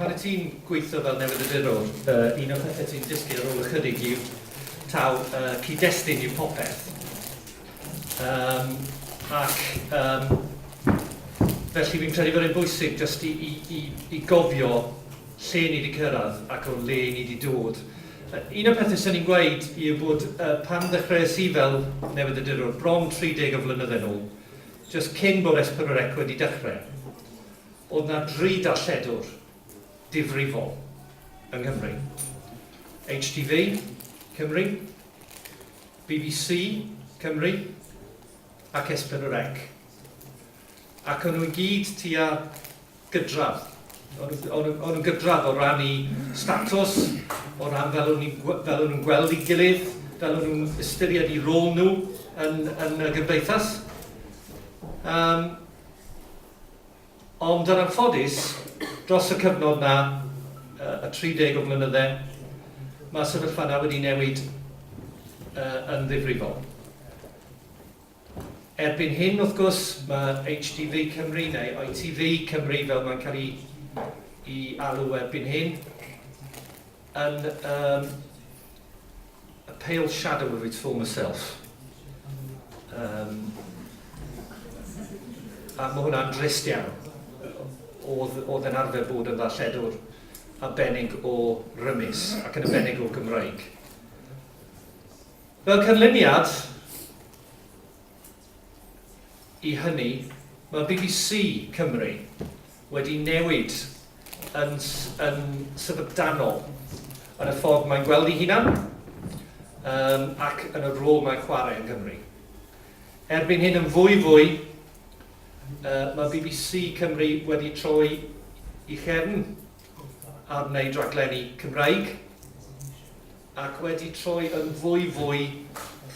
Pan wyt ti'n gweithio fel newyddiadurwr, un o'r pethau ti'n dysgu ar ôl ychydig yw taw cyd-destun yw popeth. Yym ac yym felly fi'n credu bod e'n bwysig jyst i i i i gofio lle ni 'di cyrraedd ac o le ni 'di dod. Un o'r pethau 'swn i'n gweud yw bod pan ddechreuais i fel newyddiadurwr bron 30 o flynyddau nôl, jyst cyn bod S4C wedi dechrau, bod 'na dri darlledwr difrifol yng Nghymru, HTV, Cymru, bbc, Cymru, ac Espenwrec, ac o'n nhw i gyd tua gydradd, o'n nhw, o'n nhw, o'n nhw'n gydradd o ran eu statws, o ran fel o'n ni'n, fel o'n nhw'n gweld ei gilydd, fel o'n nhw'n ystyried eu rôl nhw yn, yn y gymdeithas. Yym. Ond yn anffodus, dros y cyfnod 'na, y 30 o flynydde, mae'r sefyllfa 'na wedi newid yn ddifrifol. Erbyn hyn, wrth gwrs, mae HTV Cymru, neu ITV Cymru fel mae'n cael ei alw erbyn hyn, Yn um, a pale shadow of its former self. Um, a mae hwnna'n drist iawn. Oedd, oedd yn arfer bod yn ddarlledwr a benig o rymus ac yn y benig o Gymraeg. Fel canlyniad, I hynny, mae bbc Cymru wedi newid yn yn syfrdanol yn y ffordd mae'n gweld ei hunan yym ac yn y rôl mae'n chwarae yng Nghymru. Erbyn hyn yn fwy fwy yy mae bbc Cymru wedi troi i chefn ar wneud rhaglenni Cymraeg. ac wedi troi yn fwy fwy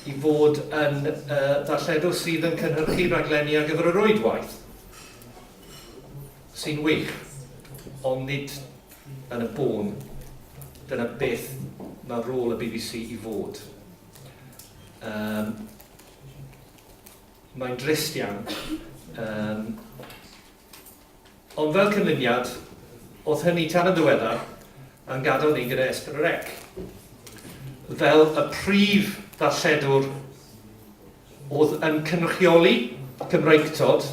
i fod yn ddarlledwr sydd yn cynhyrchu rhaglenni ar gyfer y rwydwaith, sy'n wych, ond nid yn y bôn dyna beth mae rôl y bbc i fod. Yym, mae'n drist iawn. Yym. Ond fel cynlyniad, o'th hynny tan yn ddiweddar yn gadel ni gyda Esther yr Ec fel y prif ddarlledwr o'dd yn cynrychioli Cymreictod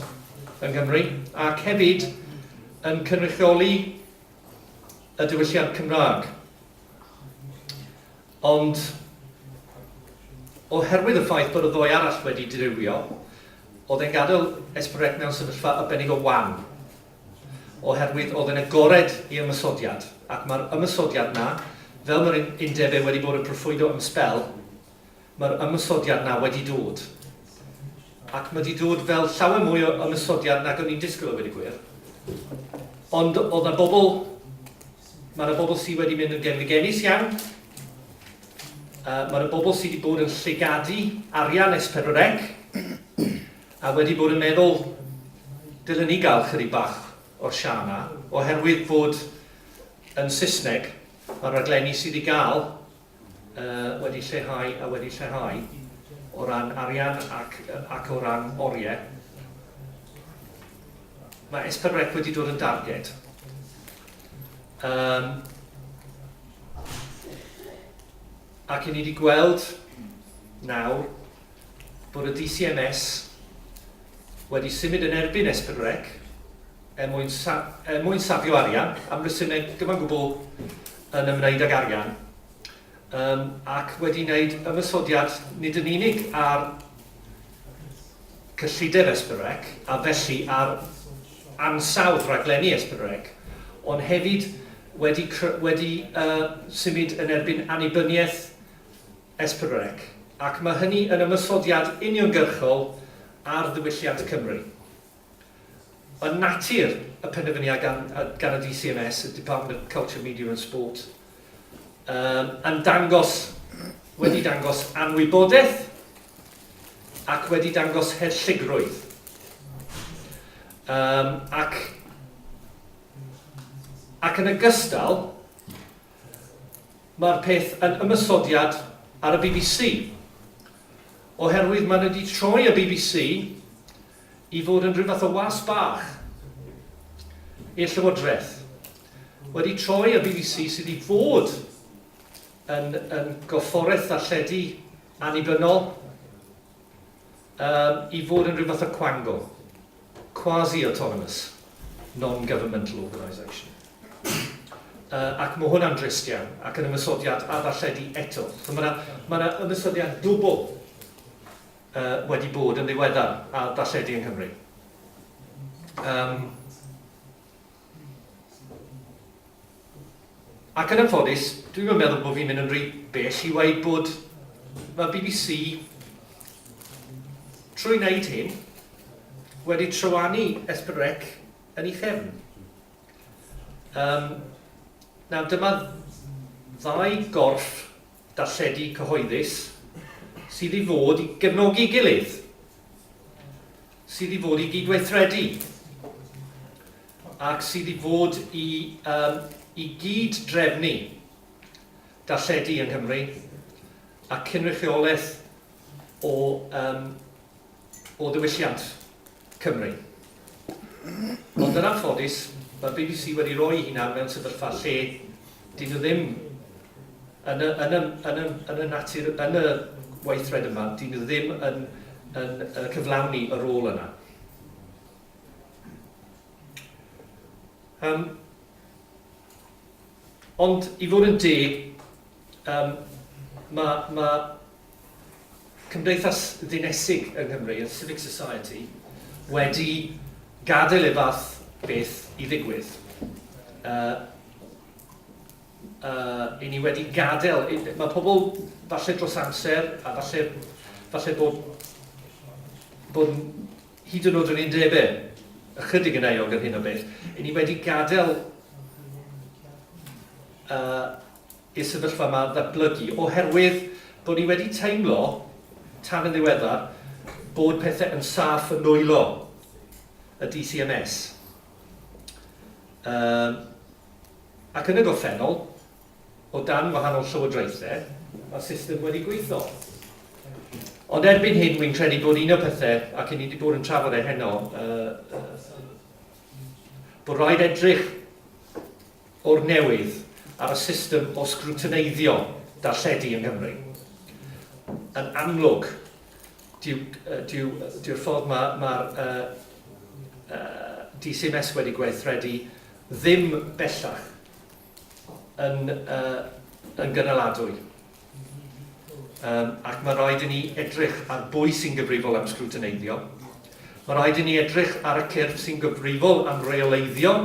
yng Nghymru ac hefyd yn cynrychioli y diwylliant Cymraeg. Ond oherwydd y ffaith bod y ddoi arall wedi dirywio, oedd e'n gadael Esperec mewn sefyllfa arbennig o wan, oherwydd oedd e'n agored i ymosodiad, ac mae'r ymosodiad 'na, fel mae'r undeb e wedi bod yn proffwydo am sbel, mae'r ymosodiad 'na wedi dod. Ac mae 'di dod fel llawer mwy o ymosodiad nag o'n i'n disgwyl a weud y gwir. Ond oedd 'na bobl Mae yna bobl sydd wedi mynd yn genfigennus iawn. Uh, Mae yna bobl sydd wedi bod yn llygadu arian es pedwrec a wedi bod yn meddwl dylen ni gael chydig bach o'r sian yma, oherwydd fod yn Saesneg mae'r raglenni sydd i gael wedi lleihau a wedi lleihau o ran arian ac, ac o ran oriau. Mae S4C wedi dod yn darged. Um, ac i ni wedi gweld nawr bod y DCMS wedi symud yn erbyn Esbyrnrec er mwyn, sa er mwyn safio arian, am resymeg gyfan gwbl yn ymwneud ag arian, um, ac wedi wneud ymysodiad nid yn unig ar cyllideb Esbyrnrec, a felly ar ansawdd rhaglenni Esbyrnrec, ond hefyd wedi, wedi uh, symud yn erbyn annibyniaeth Esprebrec, ac mae hynny yn ymosodiad uniongyrchol ar ddiwylliant Cymru. Yn natur y penderfyniad gan gan y DCMS, y Department of Culture, Media and Sport, um, yn dangos, wedi dangos anwybodaeth ac wedi dangos herlligrwydd. Um, ac, ac yn ogystal, Mae'r peth yn ymosodiad ar y bbc, oherwydd maen nhw wedi troi y bbc i fod yn rhyw fath o was bach i'r Llywodraeth, wedi troi y bbc sydd i fod yn yn gorfforaeth ddarlledu annibynnol, Yym, i fod yn rhyw fath o cwango. Quasi-autonomous, non-governmental organisation. Yy, ac mae hwnna'n drist iawn, ac yn ymosodiad ar ddarlledu eto. So mae 'na, mae 'na ymosodiad dwbl yy wedi bod yn ddiweddar ar ddarlledu yng Nghymru. Yym. Ac yn anffodus, dwi'm yn meddwl bod fi'n mynd yn rhy bell i weud bod mae'r bbc, trwy wneud hyn, wedi trywanu Espen Rec yn ei chefn. Yym, nawr, dyma ddau gorff darlledu cyhoeddus sydd i fod i gefnogi'i gilydd. sydd i fod i gydweithredu ac sydd i fod i, um, i gyd-drefnu darlledu yng Nghymru a cynrychiolaeth o, um, o ddiwylliant Cymru. Ond yn anffodus, mae'r BBC wedi rhoi hunan mewn sefyllfa lle Dyn nhw ddim, yn y, yn y, yn y, yn y natur, yn y weithred yma, dyn nhw ddim yn, yn, yn cyflawni y rôl yna. Um, ond i fod yn deg, um, mae, mae cymdeithas ddinesig yng Nghymru, y civic society, wedi gadael i'r fath beth i ddigwydd. Uh, uh, I ni wedi gadael, mae pobl falle dros amser a falle, falle bod, bod hyd yn oed yn un debe ychydig yn eog yn hyn o beth, i ni wedi gadael uh, y sefyllfa yma ddatblygu oherwydd bod ni wedi teimlo, tan yn ddiweddar, bod pethau yn saff yn nwylo y DCMS. Yym, ac yn y gorffennol, o dan wahanol llywodraethau, mae'r system wedi gweithio. Ond erbyn hyn, wy'n credu bod un o'r pethau, ac i ni wedi bod yn trafod e heno, uh, uh, bod rhaid edrych o'r newydd ar y system o sgrwtineiddio darlledu yng Nghymru. Yn amlwg, dyw'r dyw, dyw ffordd mae ma, uh, uh, DCMS wedi gweithredu ddim bellach yn, uh, yn gynaladwy. um, ac mae rhaid i ni edrych ar bwy sy'n gyfrifol am sgrwtineiddio. Mae rhaid i ni edrych ar y cyrff sy'n gyfrifol am reoleiddio,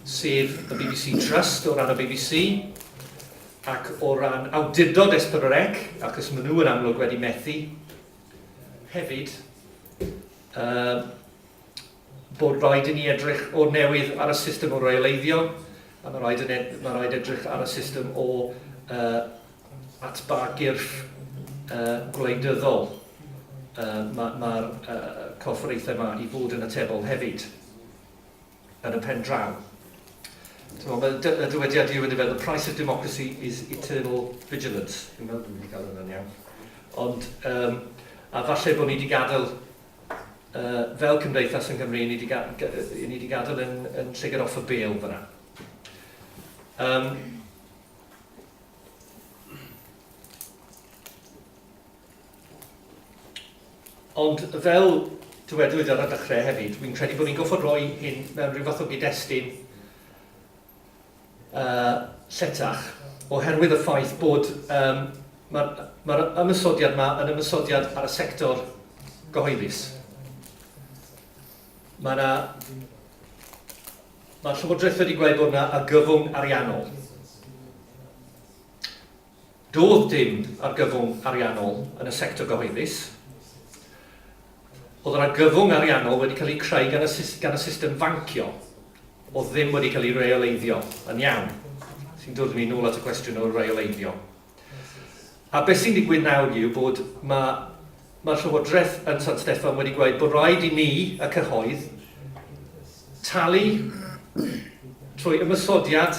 sef y BBC Trust o ran y BBC, ac o ran awdurdod Esperorec, achos maen nhw yn amlwg wedi methu. Hefyd, uh, bod rhaid i ni edrych o'r newydd ar y system o reoleiddio, a mae rhaid, yn ed mae rhaid edrych ar y system o uh, atba gyrff uh, gwleidyddol. Uh, Mae'r ma, ma uh, corfforaethau yma i fod yn atebol hefyd yn y pen draw. Mae y dywediad yw yn efo, the price of democracy is eternal vigilance. Dwi'n meddwl bod wedi cael hwnna'n iawn. Ond, um, a falle bod ni wedi gadael yy fel cymdeithas yn Gymru, ni wedi ga- ga- yy ni wedi gadael yn, yn llygad off y bêl fyna. Um, ond fel dywedwyd ar y dechrau hefyd, fi'n credu bod ni'n goffod rhoi hyn mewn rhyw fath o gyd-destun yy lletach, oherwydd y ffaith bod yym mae'r mae'r ymosodiad yma yn ymosodiad ar y sector gyhoeddus. Mae yna... Mae'r Llywodraeth wedi gweud bod yna argyfwng ariannol. Doedd dim argyfwng ariannol yn y sector gyhoeddus. Oedd yr argyfwng ariannol wedi cael ei creu gan y, gan y system fancio. oedd ddim wedi cael ei reoleiddio yn iawn, sy'n dod â ni nôl at y cwestiwn o reoleiddio. A beth sy'n digwydd nawr yw bod mae, mae Llywodraeth yn San Steffan wedi gweud bod rhaid i ni, y cyhoedd, talu trwy ymysodiad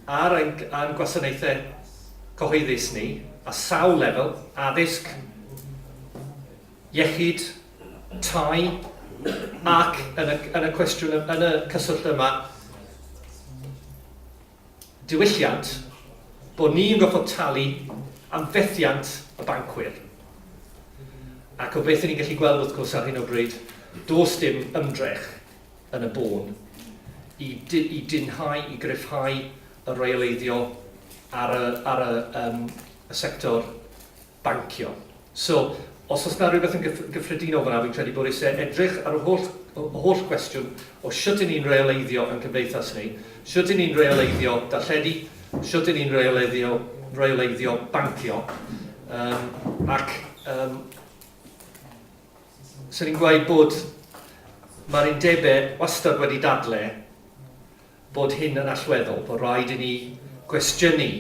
ar ein, ein gwasanaethau cyhoeddus ni, a sawl lefel, addysg, iechyd, tai, ac yn y, yn y cwestiwn, yn y cyswllt yma, diwylliant, bod ni'n gorfod talu am fethiant y bancwyr. Ac o beth ni'n gallu gweld wrth gwrs ar hyn o bryd, dos dim ymdrech yn y bôn i, i dinhau, i gryfhau y reoleiddio ar y, ar y, um, y sector bancio. So, os oes 'na rywbeth yn gyffredinol fan'na, fi'n credu bod isie edrych ar y holl, y holl gwestiwn o shwt 'yn ni'n reoleiddio yn cymdeithas ni, shwt 'yn ni'n reoleiddio darlledu, shwt 'yn ni'n reoleiddio, reoleiddio bancio, um, ac um, sy'n ni'n gweud bod mae'r undebau wastad wedi dadle bod hyn yn allweddol, bod rhaid i ni gwestiynu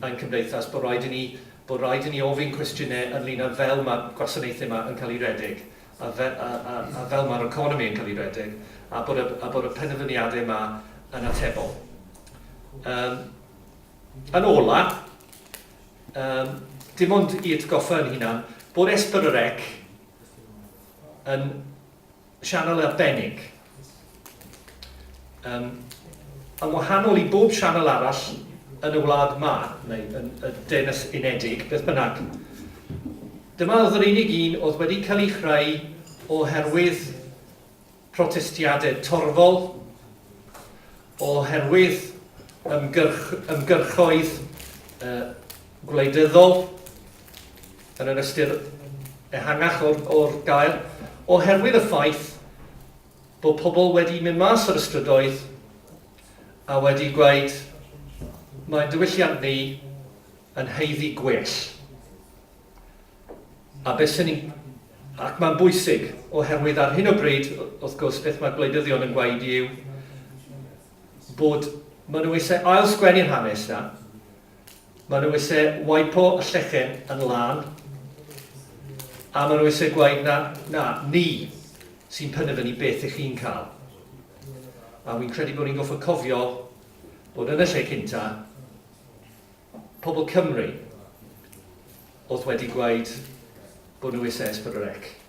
ein cymdeithas, bod rhaid i ni, bod rhaid i ni ofyn cwestiynau ynglyn â fel mae'r gwasanaethau yma yn cael eu rhedeg, a, fe, a, a, a fel mae'r economi yn cael ei rhedeg, a bod y, a bod y penderfyniadau yma yn atebol. Um, yn ola, um, dim ond i atgoffa yn hunan, bod Esperorec yn Sianel arbennig. Yym, yn wahanol i bob sianel arall yn y wlad ma, neu yn y Deyrnas Unedig, beth bynnag, dyma oedd yr unig un oedd wedi cael ei chreu oherwydd protestiadau torfol, oherwydd ymgyrch, ymgyrchoedd uh, gwleidyddol, yn yr ystyr ehangach o'r, or gair, oherwydd y ffaith bod pobl wedi mynd mas o'r ystrydoedd a wedi gweud mae diwylliant ni yn heiddi gwell. A beth sy'n ni'n Ac mae'n bwysig, oherwydd ar hyn o bryd, wrth gwrs, beth mae gwleidyddion yn gweud yw bod maen nhw eisiau ail-sgwennu'r hanes na, Maen nhw eisiau wipo y llechen yn lân, a maen nhw eisiau gwaed na, na, ni sy'n penderfynu beth ych chi'n cael. A wy'n credu bod ni'n goffa cofio bod yn y lle cynta, pobl Cymru oedd wedi gwaed bod nhw eisiau S4C.